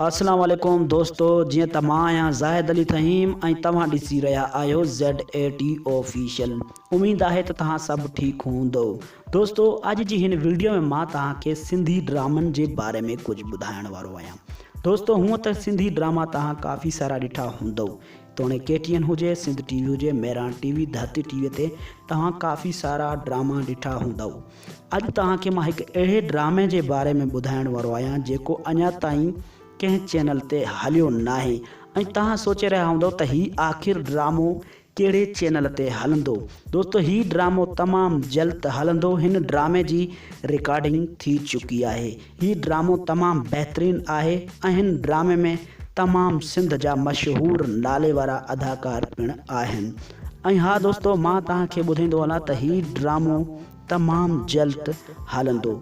اسلام عليڪم دوستو جيئن ته مان آهيان زاهد علي فهيم ۽ توهان ڏسي رهيا آهيو زيڊ اي ٽي آفيشل اميد آهي ته توهان سڀ ٺيڪ هوندو دوستو اڄ جي هن ويڊيو ۾ مان توهان کي سنڌي ڊرامن جي باري ۾ ڪجهه ٻڌائڻ وارو آهيان دوستو هونء ته سنڌي ڊراما توهان ڪافي سارا ڏٺا هوندو توڻي ڪي ٽي اين هجي، سنڌ ٽي وي هجي، مهراڻ ٽي وي، ڌرتي ٽي وي تي توهان ڪافي سارا ڊراما ڏٺا هوندؤ. اڄ توهان کي مان هڪ اهڙي ڊرامي جي باري ۾ ٻڌائڻ وارو آهيان جيڪو اڃا تائين ڪنهن چينل تي هليو ناهي ۽ توهان سوچي رهيا هوندؤ ته هي آخر ڊرامو ڪهڙي چينل تي هلندو. دوستو هي ڊرامو تمام جلد هلندو هن ڊرامي جي رڪارڊنگ ٿي چڪي آهي. هي ڊرامو تمام بهترين آهي ۽ هن ڊرامي ۾ تمام سنڌ جا مشهور نالي وارا اداڪار پڻ آهن ۽ ها دوستو مان توهان کي ٻڌائيندو هلان ته هي ڊرامو تمام جلد هلندو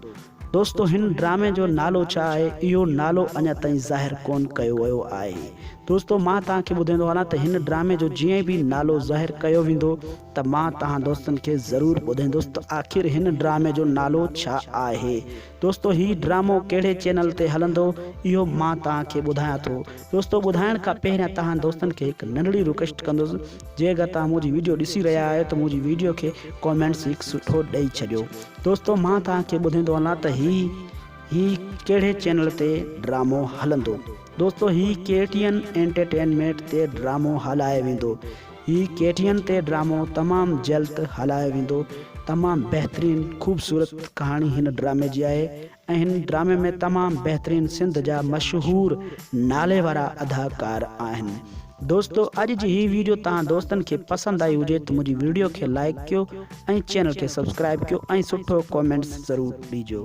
دوستو هن ڊرامي جو نالو ڇا آهي اهو نالو اڃا تائين ظاهر ڪون ڪيو ويو آهي دوستو مان توهان کي ٻڌائيندو هلان ته هن ڊرامي جو جئين به نالو ظاهر ڪيو ويندو ته مان توهان دوستن کي ضرور ٻڌائيندس ته آخر هن ڊرامي جو نالو ڇا آهي دوستو هي ڊرامو ڪهڙي چينل تي هلندو اهو مان توهان کي ٻڌايان ٿو دوستو ٻڌائڻ کان پهريان توهان دوستن کي هڪ ننڍڙي رڪويسٽ ڪندس جي اگر توهان منهنجي ويڊيو ڏسي رهيا آهيو ته منهنجي ويڊيو کي ڪامينٽس هڪ سٺو ڏئي ڇڏيو دوستو مان توهان کي ٻڌيندو هلان ته هي هي ڪهڙي چينل تي ڊرامو هلندو دوستو هي ڪي ٽي اين انٽرٽينمينٽ تي ڊرامو هلائي ويندو هي ڪي ٽي اين تي ڊرامو تمام جلد هلايو ويندو تمام بهترين خوبصورت ڪهاڻي هن ڊرامي جي آهي ۽ هن ڊرامي ۾ تمام بهترين سنڌ جا مشهور نالي وارا اداڪار آهن دوستو اڄ جي هي ويڊيو تهان دوستن کي پسند آئي هجي ته منهنجي ويڊيو کي لائيڪ ڪيو ۽ چينل کي سبسڪرائيب ڪيو ۽ سٺو ڪومينٽس ضرور ڏيجو.